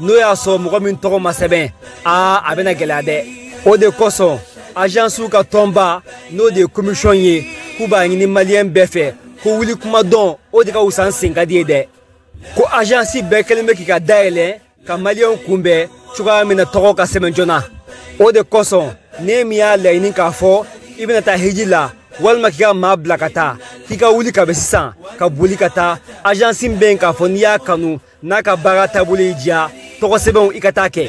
n'o y'a sɔrɔ mɔgɔ min tɔgɔ ma sɛbɛn aa a bɛna gɛlɛya dɛ o de kosɔn ajansiw ka tɔnba n'o de ye komisɔn ye k'u b'a ɲini maliyɛn bɛɛ fɛ ko wuli kuma dɔn o de ka wusa ni sen ka di ye dɛ ko ajansi bɛɛ kɛlen bɛ k'i ka da yɛlɛ ka maliyɛnw kunbɛn cogoya min na tɔgɔ ka sɛbɛn joona o de kosɔn ni min y'a laɲini k'a fɔ i bɛna taa hiji la walima k'i ka maa bila ka taa k'i ka wuli kabi sisan ka boli ka taa ajansi bɛ yen k'a fɔ n'i y'a kanu n'a ka baara taabolo y'i diya tɔgɔ sɛbɛnw i ka taa kɛ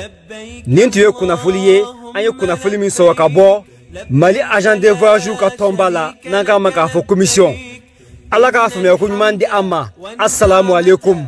nin tun ye kunnafoli ye an ye kunnafoli min sɔrɔ ka bɔ mali agent de voyage ka tɔnba la n'an k'a ma k'a fɔ commission ala k'a faamuya ko ɲuman di an ma asalamu aleykum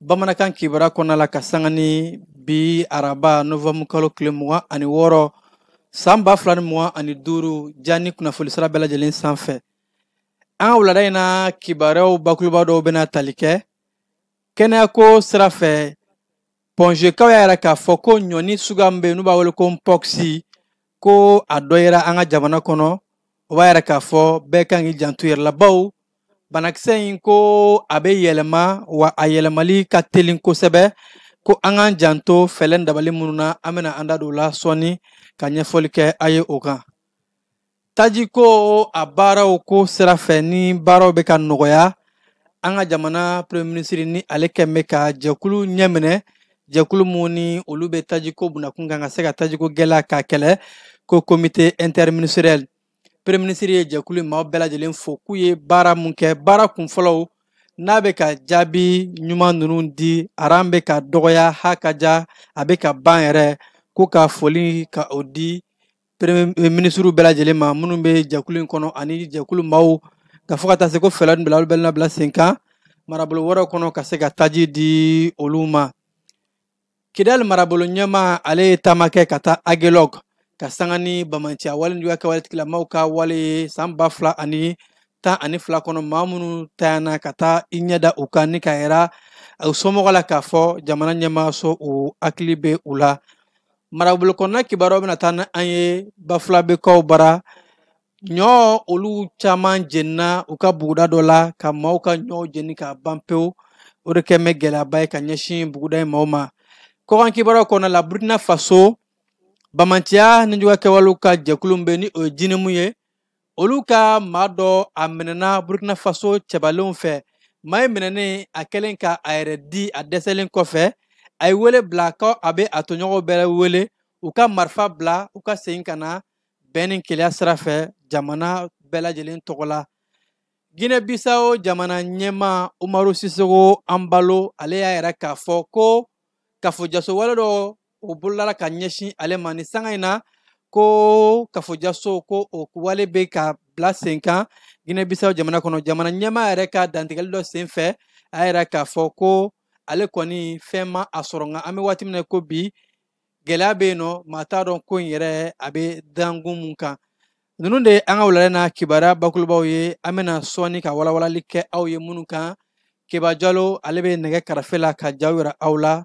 bamanankan kibaruya kɔnɔna la ka sanga ni bi araba novanbu kalo tile mugan ani wɔɔrɔ san ba fila ni mugan ani duuru jani kunnafoni sira bɛɛ lajɛlen sanfɛ an ka wulada in na kibaruyaw bakuruba dɔw bɛna tali kɛ kɛnɛyako sira fɛ pɔnzekaw y'a yira k'a fɔ ko ɲɔni suguya min bɛ yen n'u b'a wele ko npɔkisi ko a dɔ yera an ka jamana kɔnɔ o b'a yira k'a fɔ bɛɛ kan k'i janto yɛrɛ la bawo banakisɛ in ko a bɛ yɛlɛma wa a yɛlɛmali ka telin kosɛbɛ ko an k'an janto fɛɛrɛ ni dabali minnu na an bɛna an da don o la sɔɔni ka ɲɛfɔli kɛ a ye o kan taji ko a baaraw ko sira fɛ ni baaraw bɛ ka nɔgɔya an ka jamana premier ministre ni ale kɛn bɛ ka jɛkulu ɲɛminɛ jɛkulu minnu ni olu bɛ tajiko bunakun kan ka se ka tajiko gɛlɛya k'a kɛlɛ ko comité interministériel premier ministre ye jɛkulu in maaw bɛɛ lajɛlen fo k'u ye baara mun kɛ baara kunfɔlɔw n'a bɛ ka jaabi ɲuman ninnu di aran bɛ ka dɔgɔya ha ka ja a bɛ ka ban yɛrɛ ko ka foli ka o di premier eh, minisiriw bɛɛ lajɛlen ma minnu bɛ jɛkulu in kɔnɔ ani jɛkulu maaw ka fɔ ka taa se ko fɛɛrɛ ninnu bila olu bɛɛ labila sen kan marabolo wɛrɛw kɔnɔ ka se ka taji di olu ma kidali marabolo ɲɛmaa ale ye taama kɛ ka taa agelɔg ka sanga ni banbaanciya wale juguya kɛwale tigilamaw ka wale ye san ba fila ani tan ani fila kɔnɔ maa minnu tayana ka taa i ɲɛda u kan ni k'a yira u somɔgɔ la k'a fɔ jamana ɲɛmaaso u hakili bɛ u la marabolo kɔnɔna kibaruyaw bɛna taa ni an ye bafulabekaw bara ɲɔ olu caman jenina u ka buguda dɔ la ka maaw ka ɲɔw jeni k'a ban pewu o de kɛn bɛ gɛlɛyaba ye ka ɲɛsin buguda in maaw ma kɔkan kibaruyaw kɔnɔna la burkina faso banbaanciya ni juguya kɛwalew ka jɛkulu bɛ ni o ye jinimu ye olu ka maa dɔ a minɛna burkina faso cɛbalenw fɛ maa in minɛnen a kɛlen ka a yɛrɛ di a dɛsɛlen kɔfɛ a ye wele bila ko a bɛ a tɔɲɔgɔnw bɛɛ wele u ka marifa bila u ka segin ka na bɛn ni kelenya sira fɛ jamana bɛɛ lajɛlen tɔgɔ la ginɛ bisawo jamana ɲɛmaa umaru sisoko embalo ale y'a yira k'a fɔ ko kafojaso wale dɔ o bolodala ka ɲɛsin ale ma nin sanga in na ko kafojaso ko o wale bɛ ka bila sen kan ginɛ bisawo jamana kɔnɔ jamana ɲɛmaa yɛrɛ ka dantigɛli dɔ sen fɛ a y'a yira k'a fɔ ko ale kɔni fɛn ma a sɔrɔ nka an bɛ waati min na ko bi gɛlɛya bɛ yen nɔ maa t'a dɔn ko in yɛrɛ a bɛ dankun mun kan ninnu de an ka wulada na kibaruya bakurubaw ye an bɛna sɔɔni ka walawalali kɛ aw ye minnu kan keba jalo ale bɛ nɛgɛ karafe la ka jaw yira aw la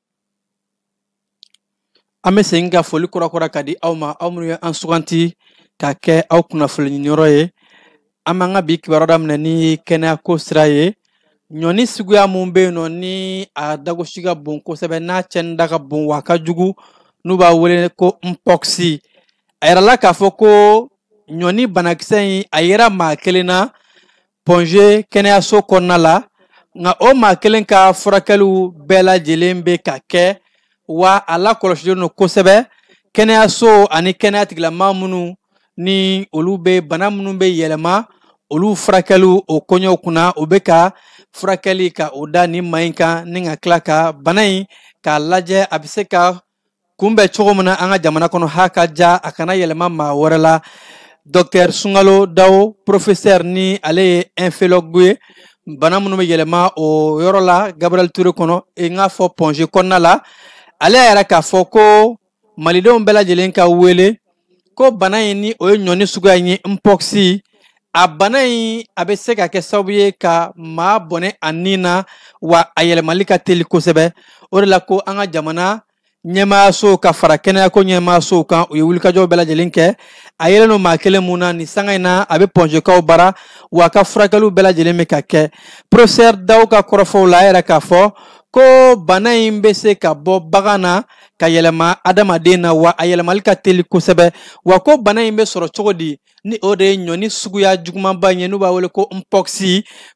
an bɛ segin ka foli kurakura ka di aw ma aw minnu ye an suganti ka kɛ aw kunnafoni ɲiniyɔrɔ ye an b'an ka bi kibaruya daminɛ ni kɛnɛyako sira ye ɲɔni suguya mun bɛ yen nɔ ni a dagosi ka bon kosɛbɛ n'a cɛnni da ka bon wa a ka jugu n'u b'a wele ko mpox a yirala k'a fɔ ko ɲɔni banakisɛ in a yera maa kelen na pɔnze kɛnɛyaso kɔnɔna la nka o maa kelen ka furakɛliw bɛɛ lajɛlen bɛ ka kɛ wa a lakɔlɔsilen don kosɛbɛ kɛnɛyaso ani kɛnɛya tigilamaa minnu ni olu bɛ bana minnu bɛ yɛlɛma olu furakɛliw o koɲɛw kunna o bɛ ka furakɛli ka o da nin maa in kan ni ka tila ka bana in k'a lajɛ a bɛ se ka kunbɛn cogo min na an ka jamana kɔnɔ ha ka ja a kana yɛlɛma maa wɛrɛ la dɔktɛr sungalo dawo profesɛr ni ale ye infɛlɔgu ye bana minnu bɛ yɛlɛma o yɔrɔ la gabriel ture kɔnɔ n k'a fɔ pɔnze kɔnɔna la ale y'a yira k'a fɔ ko malidenw bɛɛ lajɛlen ka wele ko bana in ni o ye ɲɔni suguya in ye mpox a bana in a bɛ se ka kɛ sababu ye ka maa bɔnɛ a ni na wa a yɛlɛmali ka teli kosɛbɛ o de la ko an ka jamana ɲɛmaayasow ka fara kɛnɛyako ɲɛmaayasow kan u ye wulikajɔw bɛɛ lajɛlen kɛ a yelen don maa kelen mun na nin sanga in na a bɛ pɔnzekaw bara wa a ka furakɛliw bɛɛ lajɛlen bɛ ka kɛ profesɛr dawo ka kɔrɔfɔw la a y'a yira k'a fɔ ko bana in bɛ se ka bɔ bagan na ka yɛlɛma adamaden na wa a yɛlɛmali ka teli kosɛbɛ wa ko bana in bɛ sɔrɔ cogo di ni o de ye ɲɔni suguya jugumanba in ye n'u b'a wele ko mpox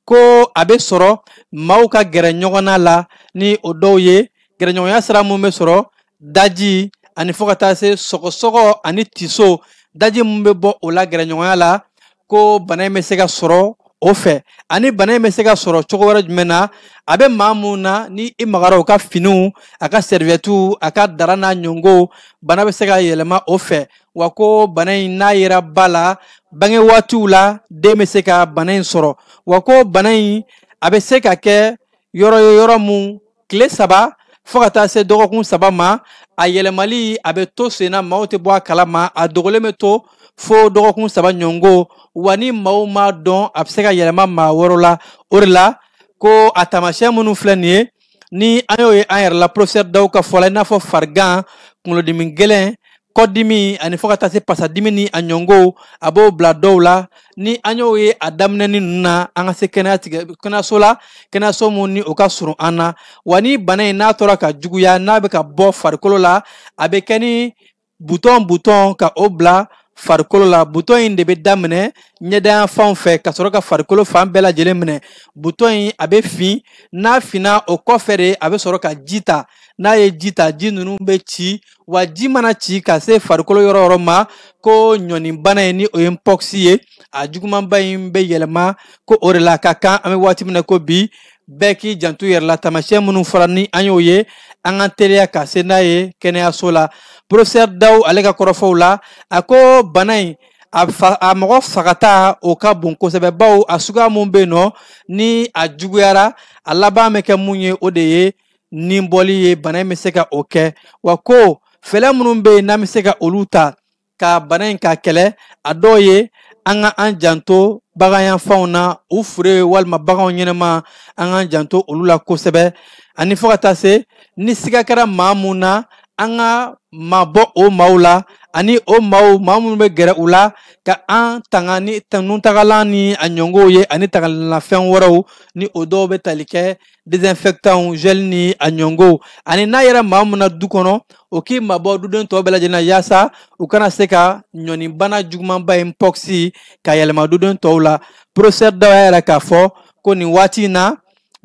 ko a bɛ sɔrɔ maaw ka gɛrɛ ɲɔgɔnna la ni o dɔw ye gɛrɛɲɔgɔnya sira mun bɛ sɔrɔ daji ani fo ka taa se sɔgɔsɔgɔ ani tiso daji mun bɛ bɔ o la gɛrɛɲɔgɔnya la ko bana in bɛ se ka sɔrɔ o fɛ ani bana in bɛ se ka sɔrɔ cogo wɛrɛ jumɛn na a bɛ maa mun na ni i magara o ka finiw a ka sɛrivɛtiw a ka dara n'a ɲɔngow bana bɛ se ka yɛlɛma o fɛ wa ko bana in n'a yera ba la bange waatiw la den bɛ se ka bana in sɔrɔ wa ko bana in a bɛ se ka kɛ yɔrɔ o yɔrɔ mun tile saba fo ka taa se dɔgɔkun saba ma a yɛlɛmali a bɛ to sen na maaw tɛ bɔ a kalama a dogolen bɛ to fo dɔgɔkun saba ɲɔngo wa ni maaw m'a dɔn a bɛ se ka yɛlɛma maa wɛrɛw la o de la ko a taamasiyɛn minnu filɛ nin ye ni an y'o ye an yɛrɛ la porofesɛri Dawu ka fɔ la i n'a fɔ farigan kunkolodimi gɛlɛn kɔdimi ani fo ka taa se pasadimi ni a ɲɔngow a b'o bila dɔw la ni an y'o ye a daminɛni ninnu na an ka se kɛnɛyaso la kɛnɛyaso mun ni o ka surun an na wa ni bana in n'a tora ka juguya n'a bɛ ka bɔ farikolo la a bɛ kɛ ni butɔn butɔn ka o bila farikolo la butɔn in de bɛ daminɛ ɲɛda yanfanw fɛ ka sɔrɔ ka farikolo fan bɛɛ lajɛlen minɛ butɔn in a bɛ fin n'a finna o kɔfɛ de a bɛ sɔrɔ ka ji ta n'a ye ji ta ji ninnu bɛ ci wa ji mana ci ka se farikolo yɔrɔ yɔrɔ ma ko ɲɔninbana in ni o ye npɔkisi ye a jugumanba in bɛ yɛlɛma ko o de la ka kan an bɛ waati min na ko bi bɛɛ k'i janto yɛrɛ la taamasiyɛn minnu fɔra ni an y'o ye an ka teliya ka se n'a ye kɛnɛyaso la porofesɛri Dawu ale ka kɔrɔfɔw la a ko bana in a mɔgɔ fagata o ka bon kosɛbɛ bawo a suguya mun bɛ yen nɔ ni a juguyara a laban bɛ kɛ mun ye o de ye ni bɔli ye bana in bɛ se ka o kɛ wa ko fɛɛrɛ minnu bɛ yen n'an bɛ se ka olu ta ka bana in k'a kɛlɛ a dɔw ye an ka an janto baganyanfanw na u fure walima baganw ɲɛnama an k'an janto olu la kosɛbɛ ani fo ka taa se ni siga kɛra maa mun na an ka mabɔ o maaw la ani o maaw maa minnu bɛ gɛrɛ u la ka an tanga ni nutangalan ni a ɲɔngow ye ani tangalanfɛn wɛrɛw ni o dɔw bɛ tali kɛ désinfectant gel ni a ɲɔngow ani n'a yera maa mun na du kɔnɔ o k'i mabɔ duden tɔw bɛɛ lajɛlen na yaasa u kana se ka ɲɔninbana jugumanba in npɔkisi ka yɛlɛma duden tɔw la professeur Dawu y'a yira k'a fɔ ko nin waati in na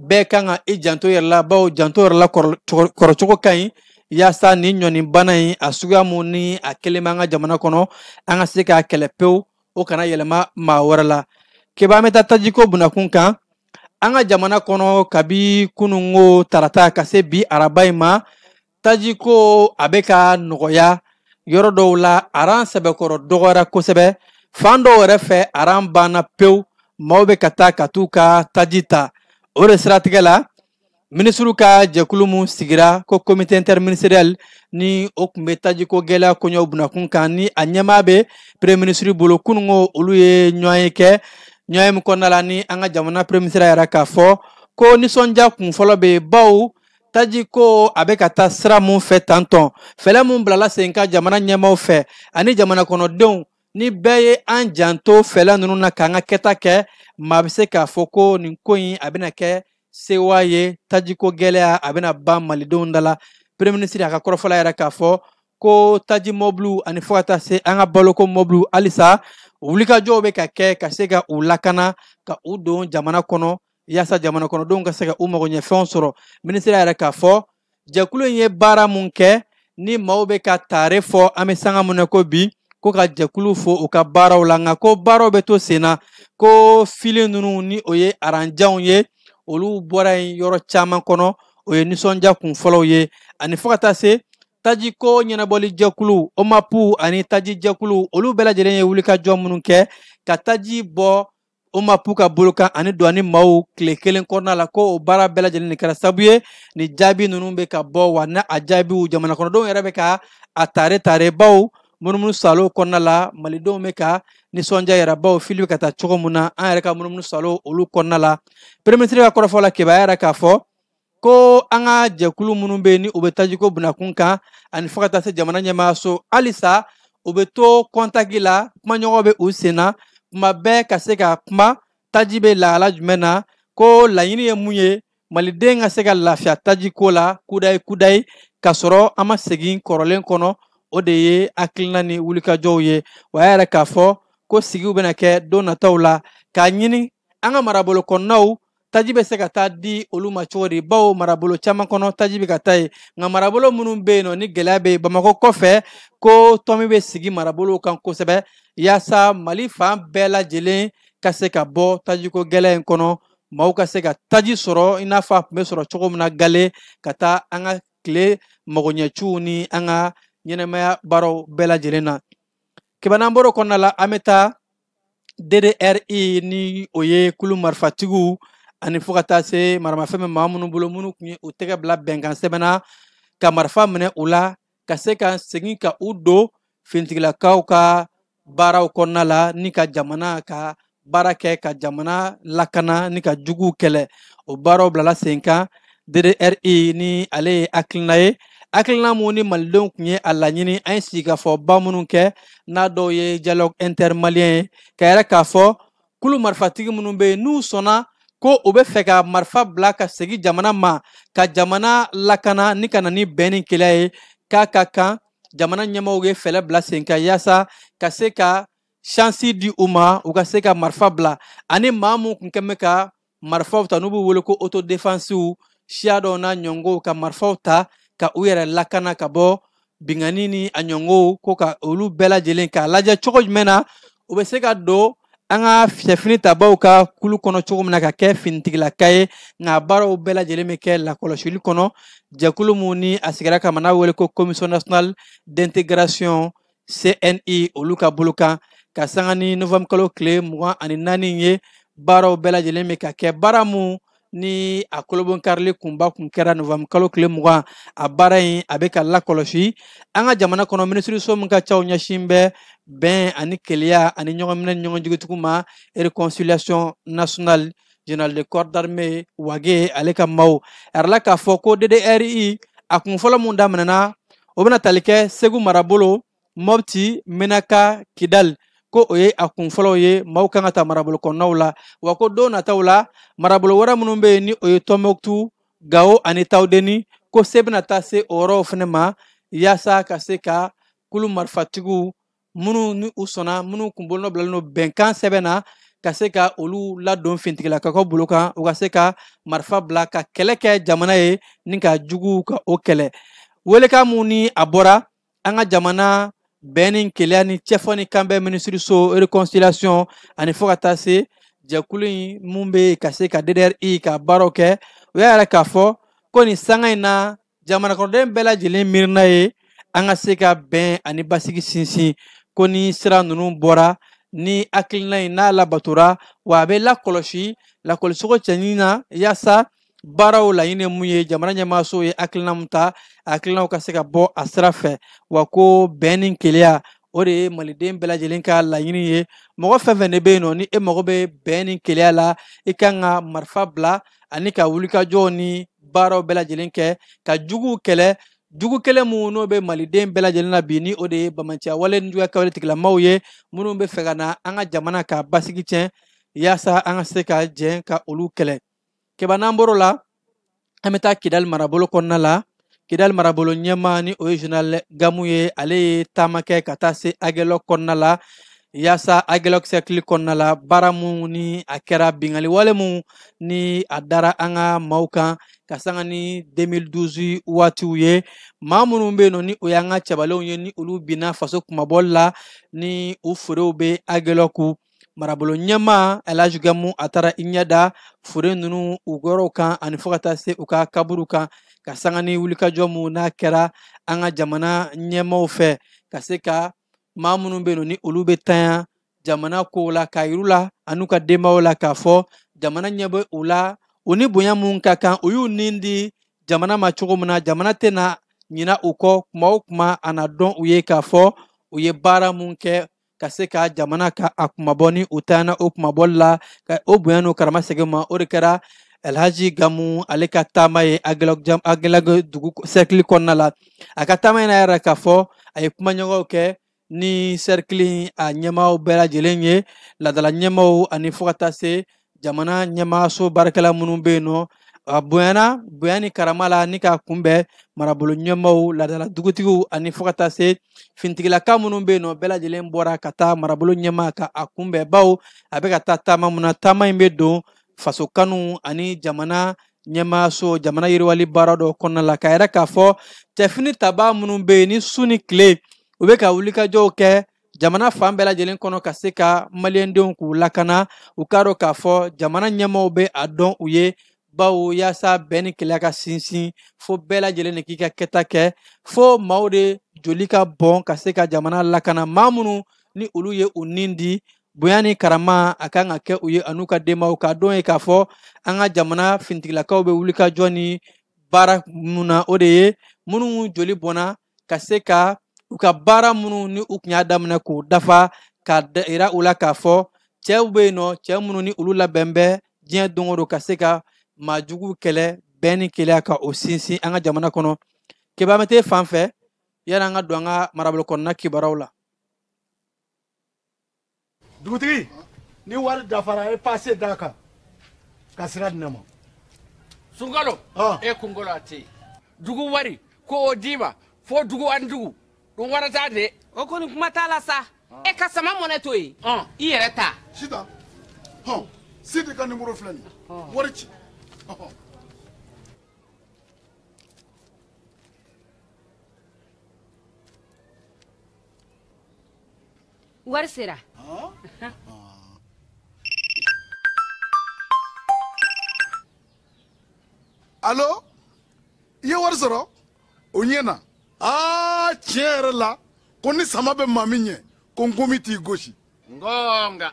bɛɛ kan ka i janto yɛrɛ la bawo janto yɛrɛ la kɔrɔcogo ka ɲi yaasa nin ɲɔninbana in a suguya mun ni a kelen b'an ka jamana kɔnɔ an ka se k'a kɛlɛ pewu o kana yɛlɛma maa wɛrɛ la Keba an bɛ taa tajiko bunakun kan an ka jamana kɔnɔ kabi kununko tarata ka se bi araba in ma tajiko a bɛ ka nɔgɔya yɔrɔ dɔw la aran sɛbɛkɔrɔ dɔgɔyara kosɛbɛ fan dɔw yɛrɛ fɛ aran banna pewu maaw bɛ ka taa ka t'u ka taji ta o de siratigɛ la minisiriw ka jɛkulu min sigira ko komite interministeriel ni o tun bɛ tajiko gɛlɛya koɲɛw bunakun kan ni a ɲɛmaa bɛ premier minisiri bolo kunun ko olu ye ɲɔgɔnye kɛ ɲɔgɔnye min kɔnɔna la ni an ka jamana premier minisiri y'a yira k'a fɔ ko nisɔndiya kun fɔlɔ bɛ yen bawo taji ko a bɛ ka taa sira mun fɛ tantɔn fɛɛrɛ mun bilala sen ka jamana ɲɛmaaw fɛ ani jamana kɔnɔdenw ni bɛɛ ye an janto fɛɛrɛ ninnu na k'an ka kɛta kɛ maa bɛ se k'a fɔ ko nin ko in a bɛna kɛ sewa ye tajiko gɛlɛya a bɛna ban malidenw da la premier ministre a ka kɔrɔfɔ la a y'a yira k'a fɔ ko taji mɔbiliw ani fo ka taa se an ka baloko mɔbiliw halisa wulikajɔw bɛ ka kɛ ka se ka u lakana ka u don jamana kɔnɔ yaasa jamana kɔnɔdenw ka se ka u magoɲɛfɛnw sɔrɔ minisiri y'a yira k'a fɔ jɛkulu in ye baara mun kɛ ni maaw bɛ ka taare fɔ an bɛ sanga mun na ko bi ko ka jɛkulu fo u ka baaraw la nka ko baaraw bɛ to sen na ko fili ninnu ni o ye aranjanw ye olu bɔra yen yɔrɔ caman kɔnɔ o ye nisɔndiya kun fɔlɔw ye ani fo ka taa se tajiko ɲɛnabɔli jɛkulu omapu ani taji jɛkulu olu bɛɛ lajɛlen ye wulikajɔ minnu kɛ ka taji bɔ omapu ka bolo kan ani duwani maaw tile kelen kɔnɔna la ko o baara bɛɛ lajɛlen de kɛra sabu ye ni jaabi ninnu bɛ ka bɔ wa na a jaabiw jamanakɔnɔdenw yɛrɛ bɛ ka a tare tare bawo munumunu salo kɔnɔna la malidenw bɛ ka nisɔndiya yira bawo fili bɛ ka taa cogo min na an yɛrɛ ka munumunu salo olu kɔnɔna la premier minisiri ka kɔrɔfɔ la cɛba y'a yira k'a fɔ ko an ka jɛkulu minnu bɛ yen ni u bɛ tajiko bunakun kan ani fo ka taa se jamana ɲɛmaayaso halisa u bɛ to kɔntaki la kumaɲɔgɔn bɛ u sen na kuma bɛɛ ka se ka kuma taji bɛ lahala jumɛn na ko laɲini ye mun ye maliden ka se ka lafiya taji ko la kudayi kudayi ka sɔrɔ an ma segin kɔrɔlen kɔnɔ o de ye hakilina ni wulikajɔw ye wa a y'a yira k'a fɔ ko sigiw bɛna kɛ don nataw la k'a ɲini an ka marabolo kɔnɔnaw taji bɛ se ka taa di olu ma cogo di bawo marabolo caman kɔnɔ taji bɛ ka taa yen nka marabolo minnu bɛ yen nɔ ni gɛlɛya bɛ yen bamakɔ kɔfɛ ko tɔmi bɛ sigi marabolow kan kosɛbɛ yaasa mali fan bɛɛ lajɛlen ka se ka bɔ tajiko gɛlɛya in kɔnɔ maaw ka se ka taji sɔrɔ i n'a fɔ a tun bɛ sɔrɔ cogo min na gale ka taa an ka tile magoɲɛciw ni an ka ɲɛnamaya baaraw bɛɛ lajɛlen na k'i ban an bɔr'o kɔnɔna la an bɛ taa DDRI ni o ye kulu marifatigiw ani fo ka taa se maramafɛn bɛ maa minnu bolo minnu tun ye u tɛgɛ bila bɛnkan sɛbɛn na ka marifa minɛ u la ka se ka segin ka u don finitigilakaw ka baaraw kɔnɔna la ni ka jamana ka baara kɛ ka jamana lakana ni ka juguw kɛlɛ o baaraw bilala sen kan DDRI ni ale ye hakilina ye hakilina mun ni malidenw tun ye a laɲini an ye sigikafɔba minnu kɛ n'a dɔw ye dialogue intermalien ye k'a yira k'a fɔ kulu marifatigi minnu bɛ yen n'u sɔnna ko u bɛ fɛ ka marifa bila ka segin jamana ma ka jamana lakana ni ka na ni bɛn ni keleya ye k'a ka kan jamana ɲɛmɔgɔw ye fɛɛrɛ bila sen kan yaasa ka se ka shansi di u ma u ka se ka marifa bila ani maa mun tun kɛn bɛ ka marifaw ta n'u b'u wele ko autodefensiw siya dɔw n'a ɲɔgɔnw ka marifaw ta ka u yɛrɛ lakana ka bɔ binkanni ni a ɲɔgɔnw ko ka olu bɛɛ lajɛlen k'a lajɛ cogo jumɛn na u bɛ se ka don an ka sɛfini tabaw ka kulu kɔnɔ cogo min na ka kɛ finitigilaka ye nka baaraw bɛɛ lajɛlen bɛ kɛ lakɔlɔsili kɔnɔ jɛkulu mun ni a sigira kama n'a wele ko commission nationale d'integration CNI olu ka bolo kan ka sanga ni novembre kalo tile mugan ani naani ye baaraw bɛɛ lajɛlen bɛ ka kɛ baara mun ni a kolobonkarili kunba kun kɛra novembre kalo tile mugan a baara in a bɛ ka lakɔlɔsi an ka jamana kɔnɔ minisiriso min ka caw ɲɛsin bɛ bɛn ani keleya ani ɲɔgɔnminɛ ni ɲɔgɔn jigitugu ma reconciliation nationale General de corps d'armée Wage ale ka maaw a yirala k'a fɔ ko DDRI a kun fɔlɔ mun daminɛna o bɛna tali kɛ Segu marabolo Mɔpti Menaka Kidali ko o ye a kun fɔlɔw ye maaw kan ka ta marabolo kɔnɔnaw la wa ko don nataw la marabolo wɛrɛ minnu bɛ yen ni o ye Tɔnbɔkutu Gawo ani Tawudeni ko se bɛna taa se o yɔrɔw fana ma yaasa ka se ka kulu marifatigiw minnu ni u sɔnna minnu kun bolonɔ bilalen don bɛnkan sɛbɛn na ka se ka olu ladon fintigilakaw ka bolo kan u ka se ka marifa bila ka kɛlɛ kɛ jamana ye ni ka juguw ka o kɛlɛ welekan mun ni a bɔra an ka jamana bɛn ni keleya ni cɛfɔ ni kanbɛn minisiriso reconciliation ani fɔɔ ka taa se jɛkulu in mun bɛ ka se ka DDRI ka baaraw kɛ u y'a yira k'a fɔ ko nin sanga in na jamana kɔnɔden bɛɛ lajɛlen miirina ye an ka se ka bɛn ani basigi sinsin ko ni sira ninnu bɔra ni hakilina in n'a labatora wa a bɛ lakɔlɔsi lakɔlɔsicogo cɛɲi na yaasa baaraw laɲini mun ye jamana ɲɛmaaso ye hakilina mun ta hakilinaw ka se ka bɔ a sira fɛ wa ko bɛn ni keleya o de ye maliden bɛɛ lajɛlen ka laɲini ye mɔgɔ fɛn fɛn de bɛ yen nɔ ni e mago bɛ bɛn ni keleya la i kan ka marifa bila ani ka wulikajɔw ni baaraw bɛɛ lajɛlen kɛ ka juguw kɛlɛ jugu kelen mun n'o bɛ maliden bɛɛ lajɛlen na bi ni o de ye banbaanciya wale nijuguya kɛwale tigilamaw ye minnu bɛ fɛ ka na an ka jamana ka basigi tiɲɛ yaasa an ka se ka jɛn ka olu kɛlɛ kɛba n'an bɔr'o la an bɛ taa kidali marabolo kɔnɔna la kidali marabolo ɲɛmaa ni o ye general gamu ye ale ye taama kɛ ka taa se agɛlɔ kɔnɔna la yaasa agɛlɔ sɛrikili kɔnɔna la baara mun ni a kɛra bingali wale mun ni a dara an ka maaw kan ka sanga ni 2012 waatiw ye maa minnu bɛ yen nɔ ni o y'an ka cɛbalenw ye ni olu binna faso kunmabɔli la ni u furew bɛ agɛlɔku marabolo ɲɛmaa elhaji gamu a taara i ɲɛ da fure nunu u yɔrɔw kan ani fo ka taa se u ka kaburu kan ka sanga ni wulikajɔ mun n'a kɛra an ka jamana ɲɛmaaw fɛ ka se ka maa minnu bɛ yen nɔ ni olu bɛ tanya jamana kow la k'a yir'u la an'u ka denbayaw la k'a fɔ jamana ɲɛ bɛ u la u ni bonya mun ka kan u y'u ni di jamana ma cogo min na jamana tɛna ɲina u kɔ kuma o kuma a na dɔn u ye k'a fɔ u ye baara mun kɛ ka se ka jamana ka a kunmabɔ ni u tanyana o kunmabɔli la ka o bonya n'o karama segin ma o de kɛra alhaji gamu ale ka taama ye agɛlɔku dugu sɛrikili kɔnɔna la a ka taama in na yira k'a fɔ a ye kumaɲɔgɔnw kɛ ni sɛrikili a ɲɛmaaw bɛɛ lajɛlen ye laadala ɲɛmaaw ani fo ka taa se jamana ɲɛmaaso baarakɛla minnu bɛ yen nɔ a bonyana bonya ni karama la ni k'a kunbɛn marabolo ɲɛmaaw laadala dugutigiw ani fo ka taa se finitigilaka minnu bɛ yen nɔ bɛɛ lajɛlen bɔra ka taa marabolo ɲɛmaa ka a kunbɛn bawo a bɛ ka taa taama mun na taama in bɛ don faso kanu ani jamana ɲɛmaaso jamana yiriwali baara dɔ kɔnɔna la k'a yira k'a fɔ cɛfini tabaa minnu bɛ yen ni su ni tile u bɛ ka wulikajɔw kɛ jamana fan bɛɛ lajɛlen kɔnɔ ka se ka maliyɛndenw k'u lakana u k'a dɔn k'a fɔ jamana ɲɛmɔgɔw bɛ a dɔn u ye bawo yaasa bɛn ni kelenya ka sinsin fo bɛɛ lajɛlen de k'i ka kɛta kɛ fo maaw de joli ka bɔn ka se ka jamana lakana maa minnu ni olu ye u nin di bonya ni karama a ka kan ka kɛ u ye an'u ka denbayaw k'a dɔn ye k'a fɔ an ka jamana finitigilakaw bɛ wulikajɔ ni baara minnu na o de ye minnu joli bɔnna ka se ka u ka baara minnu ni u tun y'a daminɛ k'u dafa ka yira u la k'a fɔ cɛw bɛ yen nɔ cɛ minnu ni olu labɛn bɛ diɲɛ don o don ka se ka maa jugu kɛlɛ bɛn ni kelenya ka o sinsin an ka jamana kɔnɔ kɛba mɛtɛ fan fɛ yani an ka don an ka marabolo kɔnɔna kibaruyaw la dugutigi ni wari dafara e paase d'a kan ka sira di ne ma sunkalo ah. e kunkolo a tɛ yen dugu wari ko o d'i ma fo dugu ani dugu dun wari t'a de o kɔni kuma t'a la sa ah. e ka sama mɔnɛ to yen ah. i yɛrɛ ta sita hɔn sidi ka nimoro filɛ nin wari ci wari sera alo i ye wari sɔrɔ o ɲɛna aa tiɲɛ yɛrɛ la ko ni sama bɛ maa min ɲɛ ko nkomi t'i gosi nka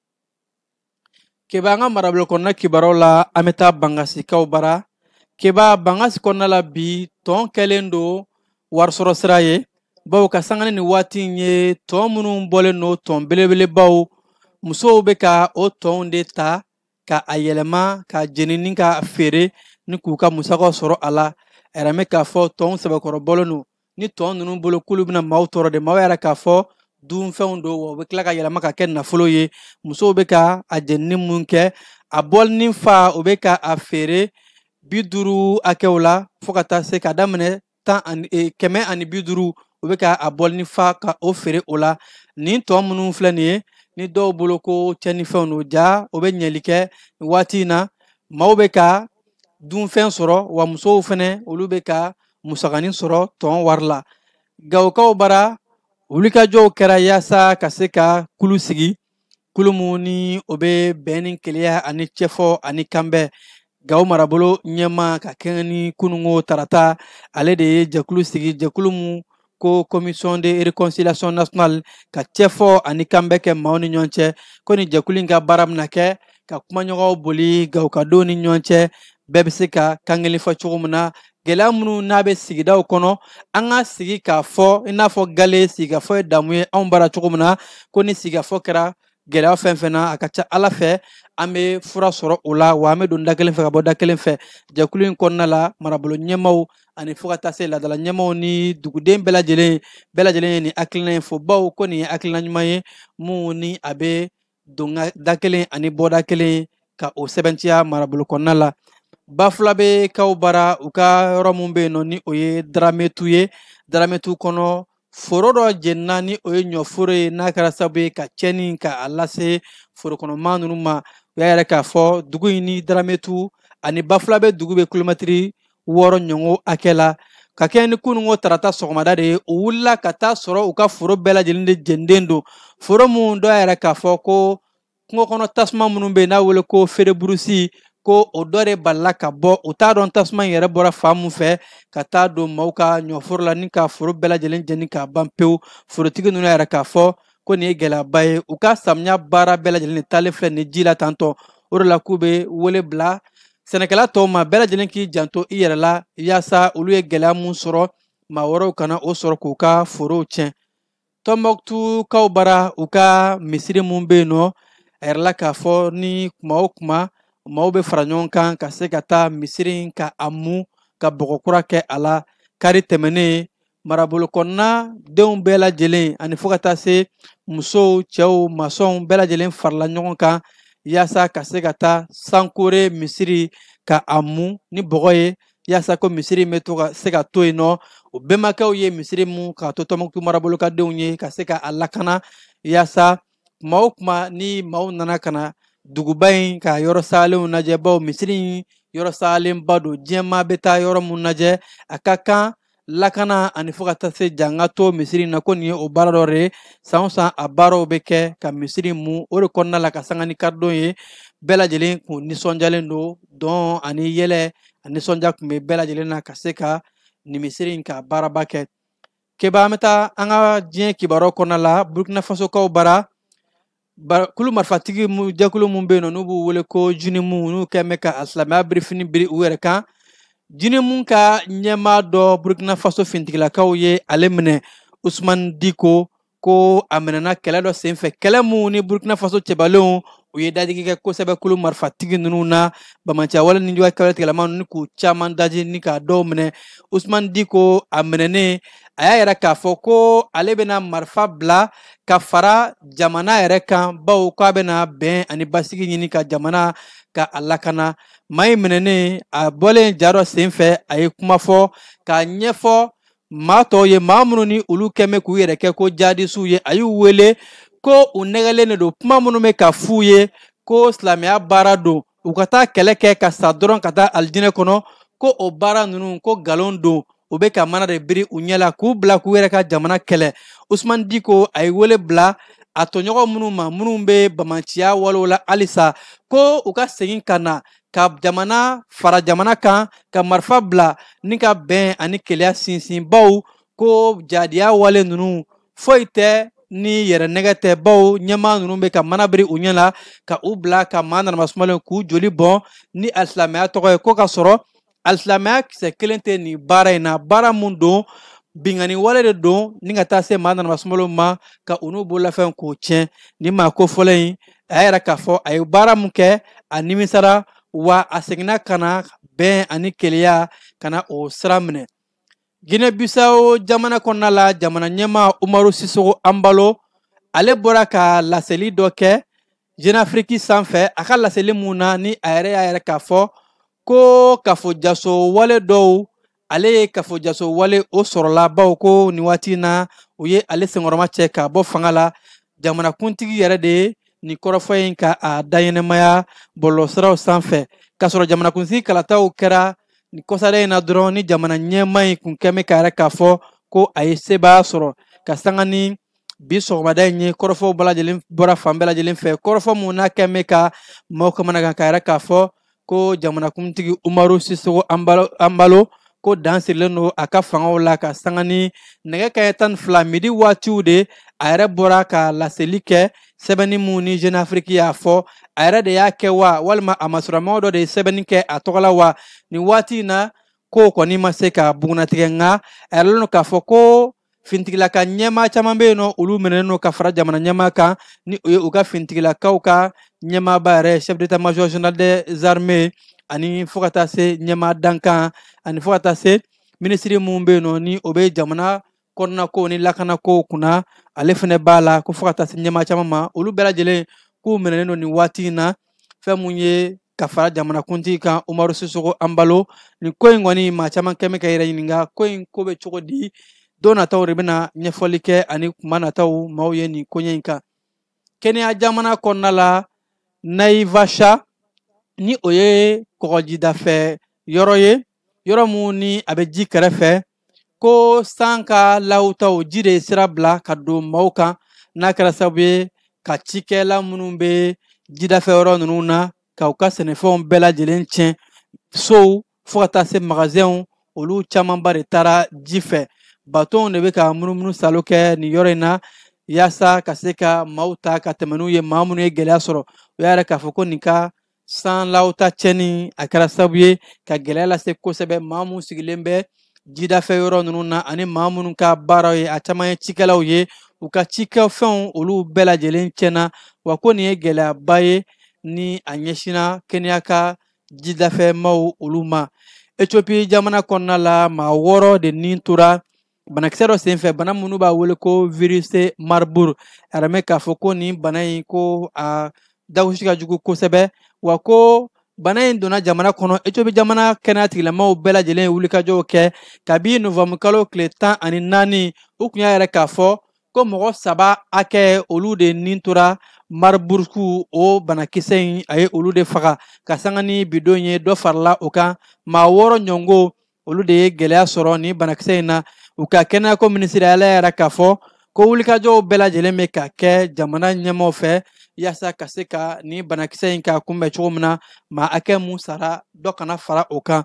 keba an ka marabolo kɔnɔna kibaruyaw la an bɛ taa bangasikaw bara keba bangasi kɔnɔna la bi tɔn kɛlen don warisɔrɔ sira ye bawo ka sanga ni waati in ye tɔn minnu bɔlen don tɔn belebelebaw musow bɛ ka o tɔnw de ta ka a yɛlɛma ka jeni ni ka feere ni k'u ka musakaw sɔrɔ a la a yɛrɛ mɛn k'a fɔ tɔnw sɛbɛkɔrɔ bɔlen don ni tɔn ninnu bolo k'olu bɛna maaw tɔɔrɔ de maaw y'a yira k'a fɔ dunfɛnw don wa u bɛ tila ka yɛlɛma ka kɛ nafolo ye musow bɛ ka a jenini mun kɛ a bɔlinin fa u bɛ ka a feere bi duuru hakɛw la fo ka taa se ka daminɛ tan ani e, kɛmɛ ani bi duuru u bɛ ka a bɔlinin fa ka o feere o la nin tɔn minnu filɛ nin ye ni dɔw bolo ko cɛnnifɛnw don jaa o bɛ ɲɛli kɛ waati in na maaw bɛ ka dunfɛn sɔrɔ wa musow fɛnɛ olu bɛ ka musakanin sɔrɔ tɔn wari la gawokaw bara wulikajɔw kɛra yaasa ka se ka kulu sigi kulu min ni o bɛ bɛn ni kelenya ani cɛfɔ ani kanbɛn gawo marabolo ɲɛmaa ka kɛɲɛ ni kununko tarata ale de ye jɛkulu sigi jɛkulu min ko commission de réconciliation nationale ka cɛfɔ ani kanbɛn kɛ maaw ni ɲɔgɔn cɛ ko nin jɛkulu in ka baara bɛna kɛ ka kumaɲɔgɔnw boli gawokadenw ni ɲɔgɔn cɛ bɛɛ bɛ se ka kan kelen fɔ cogo min na gɛlɛya minnu n'a bɛ sigidaw kɔnɔ an ka sigi k'a fɔ i n'a fɔ gale sigikafɔ ye damu ye anw bara cogo min na ko ni sigikafɔ kɛra gɛlɛya fɛn fɛn na a ka ca ala fɛ an bɛ fura sɔrɔ o la wa an bɛ don da kelen fɛ ka bɔ da kelen fɛ jɛkulu in kɔnɔna la marabolo ɲɛmaaw ani fo ka taa se laadala ɲɛmaaw ni duguden bɛɛ lajɛlen bɛɛ lajɛlen ye nin hakilina in fo bawo ko nin ye hakilina ɲuman ye min ni a bɛ don da kelen ani bɔ da kelen ka o sɛbɛntiya marabolo kɔnɔna la bafulabɛkaw bara u ka yɔrɔ min bɛ yen nɔ ni o ye darametu ye darametu kɔnɔ foro dɔ jenina ni o ye ɲɔforo ye n'a kɛra sabu ye ka cɛnni ka a lase forokɔnɔmaa ninnu ma u y'a yira k'a fɔ dugu in ni darametu ani bafulabɛ dugu bɛ kilomɛtiri wɔɔrɔ ɲɔgɔn hakɛ la ka kɛɲɛ ni kununko tarata sɔgɔmada de ye u wulila ka taa sɔrɔ u ka foro bɛɛ lajɛlen de jeninen don foro minnu dɔ y'a yira k'a fɔ ko kungo kɔnɔ tasuma minnu bɛ yen n'a wele ko feu de brousse ko o dɔ de balila ka bɔ u t'a dɔn tasuma in yɛrɛ bɔra fan mun fɛ ka taa don maaw ka ɲɔforo la ni ka foro bɛɛ lajɛlen jeni k'a ban pewu forotigi ninnu y'a yira k'a fɔ ko nin ye gɛlɛyaba ye u ka samiya baara bɛɛ lajɛlen de taalen filɛ nin ji la tantɔ o de la k'u bɛ wele bila sɛnɛkɛla tɔw ma bɛɛ lajɛlen k'i janto i yɛrɛ la yaasa olu ye gɛlɛya mun sɔrɔ maa wɛrɛw kana o sɔrɔ k'u ka forow tiɲɛ tɔnbɔkutukaw bara u ka misiri mun bɛ yen nɔ a yirala k'a fɔ ni kuma o kuma maaw bɛ fara ɲɔgɔn kan ka se ka taa misiri in ka a mu ka bɔgɔ kura kɛ a la kari tɛmɛnen marabolo kɔnɔna denw bɛɛ lajɛlen ani fo ka taa se musow cɛw masɔnw bɛɛ lajɛlen farala ɲɔgɔn kan yaasa ka se ka taa sankore misiri ka a mu ni bɔgɔ ye yaasa ko misiri in bɛ to ka se ka to yen nɔ o bɛnbakɛw ye misiri mun k'a to tɔnbɔkutu marabolo ka denw ye ka se ka a lakana yaasa kuma o kuma ni maaw nana ka na duguba in ka yɔrɔ salenw lajɛ bawo misiri in yɔrɔ salenba don diɲɛ maa bɛ taa yɔrɔ mun lajɛ a ka kan lakana ani fo ka taa se jan ka to misiri in na ko nin ye o baara dɔ de ye san o san a baaraw bɛ kɛ ka misiri mu o de kɔnɔna la ka sanga ni karidon ye bɛɛ lajɛlen kun nisɔndiyalen don dɔn ani yɛlɛ ani nisɔndiya kun bɛ bɛɛ lajɛlen na ka se ka nin misiri in ka baaraba kɛ keba an bɛ taa an ka diɲɛ kibaruyaw kɔnɔna la burkina fasokaw bara kulu marifatigi jɛkulu min bɛ yen nɔ n'u b'u wele ko jinimu n'u kɛn bɛ ka silamɛya birifini biri u yɛrɛ kan jinimu ka ɲɛmaa dɔ burkina faso fintigilakaw ye ale minɛ usumani diko ko a minɛna kɛlɛ dɔ senfɛ kɛlɛ mun ni burkina faso cɛbalenw u ye dadigi kɛ kosɛbɛ kulu marifatigi ninnu na bamanciya wale ni juguya kɛwale tigilama ni k'u caman daji ni k'a dɔw minɛ usumani diko a minɛnen a y'a yira k'a fɔ ko ale bɛna marifa bila ka fara jamana yɛrɛ kan bawo ko a bɛna bɛn ani basigi ɲini ka jamana ka a lakana maa in minɛnen a bɔlen ja dɔ sen fɛ a ye kuma fɔ k'a ɲɛfɔ maa tɔw ye maa minnu ni olu kɛn bɛ k'u yɛrɛ kɛ ko jadisiw ye a y'u wele ko u nɛgɛlen de don kuma minnu bɛ ka f'u ye ko silamɛya baara don u ka taa kɛlɛ kɛ ka sa dɔrɔn ka taa alijinɛ kɔnɔ ko o baara ninnu ko galon don u bɛ ka mana de biri u ɲɛ la k'u bila k'u yɛrɛ ka jamana kɛlɛ usumani diko a ye wele bila a tɔɲɔgɔn minnu ma minnu bɛ bamanciya walew la halisa ko u ka segin ka na ka jamana fara jamana kan ka marifa bila ni ka bɛn ani keleya sinsin bawo ko jadiya wale ninnu foyi tɛ ni yɛrɛ nɛgɛ tɛ bawo ɲɛmaa ninnu bɛ ka mana biri u ɲɛ la ka u bila ka maa nanama sumalenw k'u joli bɔn ni alisilamɛya tɔgɔ ye ko ka sɔrɔ alisilamɛya kisɛ kelen tɛ nin baara in na baara mun don binkanni wale de don ni ka taa se maa nanama sumalenw ma ka u n'u bololafɛn k'o tiɲɛ ni maa kofɔlen in a y'a yira k'a fɔ a ye baara mun kɛ a nimisara wa a seginna ka na bɛn ani keleya ka na o sira minɛ Guinée Bissau jamana kɔnɔna la jamana ɲɛmaa Umaro Sissoco Embalo ale bɔra ka laseli dɔ kɛ Jeune Afrique sanfɛ a ka laseli mun na ni a yɛrɛ y'a yɛrɛ k'a fɔ ko kafojaso wale dɔw ale ye kafojaso wale o sɔrɔla bawo ko nin waati na u ye ale senkɔrɔmacɛ ka bɔ fanga la jamanakuntigi yɛrɛ de ye nin kɔrɔfɔ in ka a dayɛnɛmaya bɔlɔlɔsiraw sanfɛ k'a sɔrɔ jamanakuntigi kalataw kɛra nin kɔsada in na dɔrɔn ni jamana ɲɛmaa in kun kɛ bɛ k'a yɛrɛ k'a fɔ ko a ye sebaaya sɔrɔ ka sanga ni bi sɔgɔmada in ye kɔrɔfɔw bɛɛ lajɛlen bɔra fan bɛɛ lajɛlen fɛ kɔrɔfɔ mun n'a kɛ bɛ ka maaw kamanagan k'a yɛrɛ k'a fɔ ko jamanakuntigi Umaro Sissoco Embalo ko dan sirilen don a ka fangaw la ka sanga ni nɛgɛ kanɲɛ tan ni fila midi waatiw de a yɛrɛ bɔra ka laseli kɛ sɛbɛnni mun ni Jeune Afrique y'a fɔ a yɛrɛ de y'a kɛ wa walima a masurunnamaaw dɔ de ye sɛbɛnni kɛ a tɔgɔ la wa nin waati in na ko kɔni ma se ka bugunnatigɛ nka a yɛrɛla k'a fɔ ko finitigilaka ɲɛmaa caman bɛ yen nɔ olu minɛnen don ka fara jamana ɲɛmaa kan ni o ye u ka finitigilakaw ka ɲɛmaaba yɛrɛ chef d'état major général des armées ani fo ka taa se ɲɛmaa dankan ani fo ka taa se minisiri mun bɛ yen nɔ ni o bɛ jamana kɔnɔna ko ni lakana kow kunna ale fɛnɛ b'a la ko fo ka taa se ɲɛmaa caman ma olu bɛɛ lajɛlen k'u minɛnen don nin waati in na fɛn mun ye ka fara jamanakuntigi kan Umaro Sissoco Embalo nin ko in kɔni maa caman kɛ bɛ k'a yɛrɛ ɲininka ko in ko bɛ cogo di don nataw de bɛna ɲɛfɔli kɛ ani kuma nataw maaw ye nin koɲɛ in kan Kenya jamana kɔnɔna la Naivasha ni o ye kɔgɔjidafɛ yɔrɔ ye yɔrɔ mun ni a bɛ ji kɛrɛfɛ ko san ka lahutaw ji de ye sira bila ka don maaw kan n'a kɛra sababu ye ka cikɛla minnu bɛ jidafɛ yɔrɔ ninnu na ka u ka sɛnɛfɛnw bɛɛ lajɛlen tiɲɛ sow fo ka taa se magasɛnw olu camanba de taara ji fɛ batonw de bɛ ka munumunu salo kɛ nin yɔrɔ in na yaasa ka se ka maaw ta ka tɛmɛ n'u ye maa minnu ye gɛlɛya sɔrɔ u y'a yɛrɛ k'a fɔ ko nin ka san lawta tiɲɛni a kɛra sababu ye ka gɛlɛya lase kosɛbɛ maa minnu sigilen bɛ jidafɛ yɔrɔ ninnu na ani maa minnu ka baaraw ye a caman ye cikɛlaw ye u ka cikɛfɛnw olu bɛɛ lajɛlen tiɲɛna wa ko nin ye gɛlɛyaba ye ni a ɲɛsinna Kenya ka jidafɛmaw olu ma Ethiopie jamana kɔnɔna la maa wɔɔrɔ de ni tora banakisɛ dɔ senfɛ bana min u b'a wele ko virus Marburg a yɛrɛ mɛn k'a fɔ ko nin bana in ko a dagosi ka jugu kosɛbɛ wa ko bana in donna jamana kɔnɔ Ethiopie jamana kɛnɛyatigilamaaw bɛɛ lajɛlen ye wulikajɔw kɛ kabi novembre kalo tile tan ani naani u tun y'a yɛrɛ k'a fɔ ko mɔgɔ saba hakɛ olu de ni tora Marburg o banakisɛ in a ye olu de faga ka sanga ni bidon ye dɔ farala o kan maa wɔɔrɔ ɲɔngo olu de ye gɛlɛya sɔrɔ ni banakisɛ in na u ka kɛnɛyako minisiri ale y'a yira k'a fɔ ko wulikajɔw bɛɛ lajɛlen bɛ ka kɛ jamana ɲɛmaaw fɛ yaasa ka se ka ni banakisɛ in ka kunbɛn cogo min na maa hakɛ mun sara dɔ kana fara o kan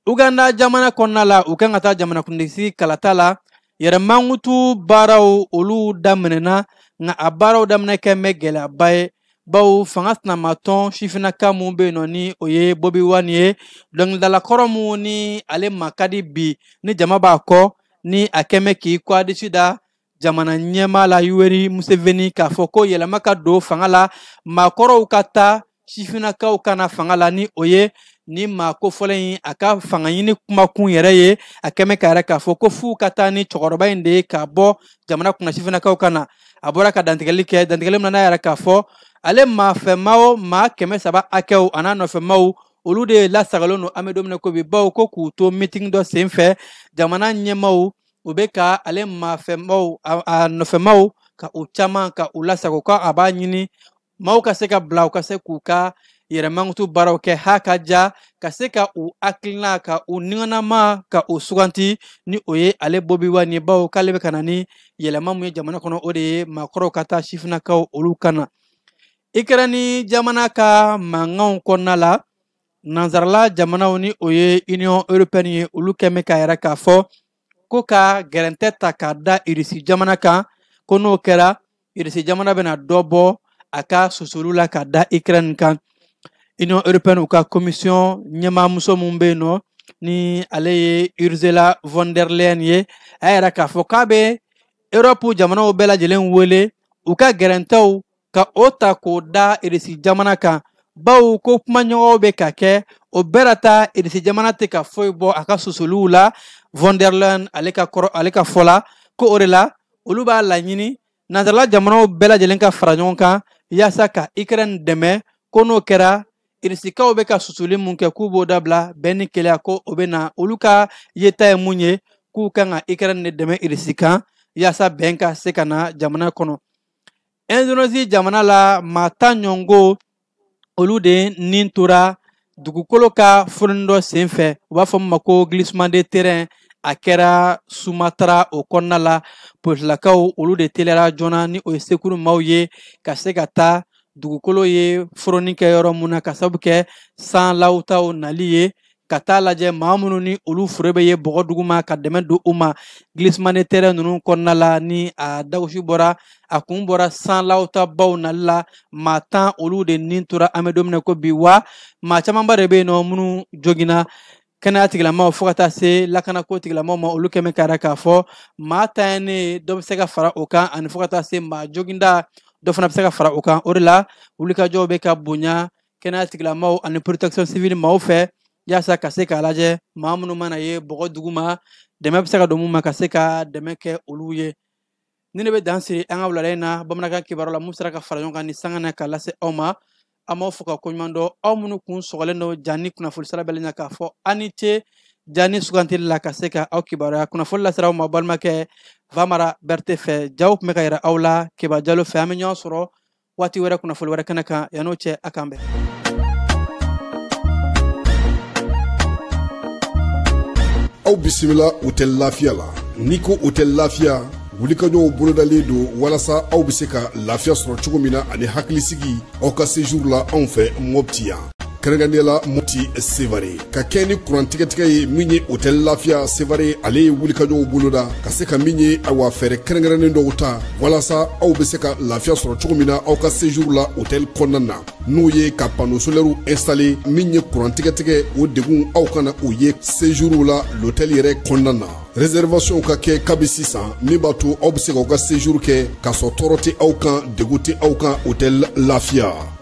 uganda jamana kɔnɔna la u kan ka taa jamanakuntigisigi kalata la yɛrɛmankutu baaraw olu daminɛna nka a baaraw daminɛ kɛn bɛ gɛlɛyaba ye bawo fanga sinamatɔn sifinnaka mun bɛ yen nɔ ni o ye bobi wine ye dɔnkilidala kɔrɔ mun ni ale ma ka di bi ni jama b'a kɔ ni a kɛn bɛ k'i kɔ a disi da jamana ɲɛmaa la yoweri museveni k'a fɔ ko yɛlɛma ka don fanga la maakɔrɔw ka taa sifinnakaw ka na fanga la ni o ye ni maa kofɔlen in a ka fanga ɲini kumakun yɛrɛ ye a kɛn bɛ k'a yira k'a fɔ ko f'u ka taa ni cɛkɔrɔba in de ye ka bɔ jamana kunna sifinnakaw ka na a bɔra ka dantigɛli kɛ dantigɛli min na a y'a yira k'a fɔ ale maafɛmaw maa kɛmɛ saba hakɛw an'a nɔfɛmaw olu de lasagolen don an bɛ don min na ko bi bawo ko k'u to mitin dɔ sen fɛ jamana ɲɛmaaw u bɛ ka ale maafɛmaw a nɔfɛmaw ka u caman ka u lasago ko a b'a ɲini maaw ka se ka bila u ka se k'u ka yɛrɛmankutu baaraw kɛ ha ka ja ka se ka u hakilina ka u niganama ka u suganti ni o ye ale bobi wine ye bawo k'ale bɛ ka na ni yɛlɛma mun ye jamana kɔnɔ o de ye maakɔrɔw ka taa sifinnakaw olu ka na ukraine jamana ka mankanw kɔnɔna la nansarala jamanaw ni o ye union européenne ye olu kɛn bɛ k'a yira k'a fɔ ko ka gɛrɛntɛ ta k'a da irisi jamana kan ko n'o kɛra irisi jamana bɛna dɔ bɔ a ka susuli la ka da ukraine kan union européenne u ka commission ɲɛmaamuso min bɛ yen nɔ ni ale ye ursula von der leyen ye a y'a yira k'a fɔ k'a bɛ europe jamanaw bɛɛ lajɛlen wele u ka gɛrɛntɛw ka o ta k'o da irisi jamana kan bawo ko kumaɲɔgɔnw bɛ ka kɛ o bɛɛ la ta irisi jamana tɛ ka foyi bɔ a ka susuliw la von der leyen ale ka kɔrɔ ale ka fɔ la ko o de la olu b'a laɲini nansarala jamanaw bɛɛ lajɛlen ka fara ɲɔgɔn kan yaasa ka ukraine dɛmɛ ko n'o kɛra irisikaw bɛ ka susuli mun kɛ k'u b'o dabila bɛn ni kelenya ko o bɛ na olu ka yeta ye mun ye k'u kan ka ukraine de dɛmɛ irisi kan yaasa bɛn ka se ka na jamana kɔnɔ indonésie jamana la maa tan ɲɔngo olu de ni tora dugukolo ka foroni dɔ sen fɛ u b'a fɔ min ma ko glissement de terrain a kɛra sumatara o kɔnɔna la polisilakaw olu de teliyara joona ni o ye sekuru maaw ye ka se ka taa dugukolo ye foroni kɛ yɔrɔ mun na k'a sabu kɛ san lawutaw nali ye ka taa lajɛ maa minnu ni olu fure bɛ ye bɔgɔ duguma ka dɛmɛ don u ma glissement de terrain ninnu kɔnɔna la ni a dagosi bɔra a kun bɔra san lawtabaw nali la maa tan olu de ni tora an bɛ don min na ko bi wa maa camanba de bɛ yen nɔ minnu joginna kɛnɛya tigilamaaw fɔɔ ka taa se lakanako tigilamaaw ma olu kɛmɛ kara k'a fɔ maa tan ye ne dɔ bɛ se ka fara o kan ani fɔɔ ka taa se maa joginda dɔ fana bɛ se ka fara o kan o de la wulikajɔw bɛ ka bonya kɛnɛya tigilamaw ani protection civile maaw fɛ yaasa ka se k'a lajɛ maa minnu mana ye bɔgɔ duguma dɛmɛ bɛ se ka don mun ma ka se ka dɛmɛ kɛ olu ye ni ne bɛ dan siri an ka wulada in na bamanankan kibaru la min sera ka fara ɲɔgɔn kan nin sanga na ka lase aw ma an b'aw fo ka koɲuman dɔn aw minnu kun sɔgɔlen don jani kunnafoni sira bɛɛ la k'a fɔ aw ni ce jani sugantili la ka se ka aw kibaruya kunnafoni lasera aw ma balimakɛ vamara bɛrɛte fɛ jaw tun bɛ ka yira aw la keba jalo fɛ an bɛ ɲɔgɔn sɔrɔ waati wɛrɛ kunnafoni wɛrɛ kɛnɛ kan yan'o cɛ a k'an bɛn aw bisimila hotɛli lafiya la n'i ko hotɛli lafiya wulikajɔw bolodalen don walasa aw bɛ se ka lafiya sɔrɔ cogo min na ani hakilisigi aw ka sejuru la anw fɛ mɔpti yan kɛrɛnkɛrɛnnenya la moti sevare ka kɛɲɛ ni kurantigɛtigɛ ye min ye hotɛli lafiya sevare ale ye wulikajɔw boloda ka se ka min ye awa fɛɛrɛ kɛrɛnkɛrɛnnen dɔw ta walasa aw bɛ se ka lafiya sɔrɔ cogo min na aw ka sejuru la hotɛli kɔnɔna na n'o ye ka pano solɛriw instale min ye kurantigɛtigɛ o degun aw kana o ye sejuru la lotɛli yɛrɛ kɔnɔna na reservation ka kɛ kabi sisan min b'a to aw bɛ se k'aw ka sejuru kɛ k'a sɔrɔ tɔɔrɔ tɛ aw kan degun tɛ aw kan hotɛli lafiya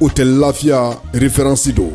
hotɛli lafiya referansi don